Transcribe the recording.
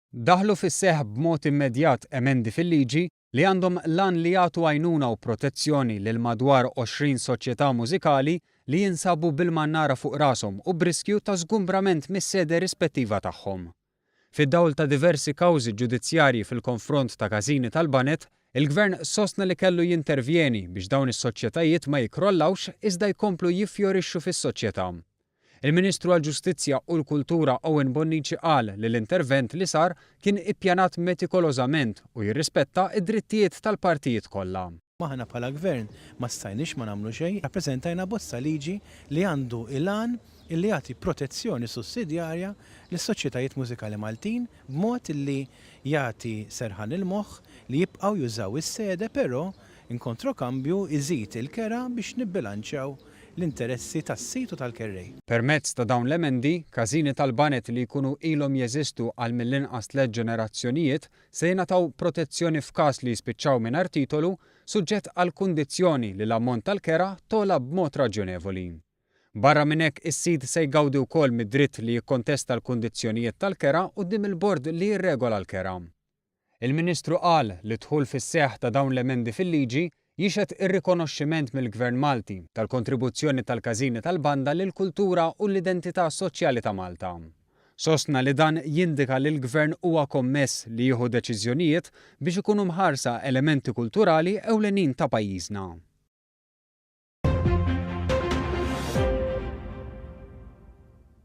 Daħlu fis-seħħ b'mod immedjat emendi fil-liġi li għandhom l-għan li jagħtu għajnuna u protezzjoni lil madwar 20 soċjetà mużikali li jinsabu bil-mannara fuq rashom u b'riskju ta' żgumbrament mis-sede rispettiva tagħhom. Fid-dawl ta' diversi kawżi ġudizzjarji fil-konfront ta' każini tal-baned, il-Gvern sostna li kellu jintervjeni biex dawn is-soċjetajiet ma jikkrollawx iżda jkomplu jiffjorixxu fis-soċjetà. Il-Ministru għall-Ġustizzja u l-Kultura Owen Bonnici qal li l-intervent li sar kien ippjanat metikolożament u jirrispetta d-drittijiet tal-partijiet kollha. Aħna bħala Gvern ma stajniex ma nagħmlu xejn, rappreżentajna abbozz ta' liġi li għandu l-għan li jagħti protezzjoni sussidjarja lis-soċjetajiet mużikali Maltin b'mod li jagħti serħan il-moħħ li jibqgħu jużaw is-sede però in kontrokambju jżid il-kera biex nibbilanċjaw l-interessi tas-sid u tal-kerrej. Permezz ta' dawn l-emendi, każini tal-baned li jkunu ilhom jeżistu għal mill-inqas tliet ġenerazzjonijiet se jingħataw protezzjoni f'każ li jispiċċaw mingħajr titolu, suġġett għall-kundizzjoni li l-ammont tal-kera togħla b'mod raġjonevoli. Barra minn hekk, is-sid se jgawdi wkoll mid-dritt li jikkontesta l-kundizzjonijiet tal-kera quddiem il-bord li jirregola l-kera. Il-Ministru qal li d-dħul fis-seħħ ta' dawn l-emendi fil-liġi Jixhed ir-rikonoxximent mill-Gvern Malti tal-kontribuzzjoni tal-każini tal-banda lill-kultura u l-identità soċjali ta' Malta. Sostna li dan jindika li l-Gvern huwa kommess li jieħu deċiżjonijiet biex ikunu mħarsa elementi kulturali ewlenin ta' pajjiżna.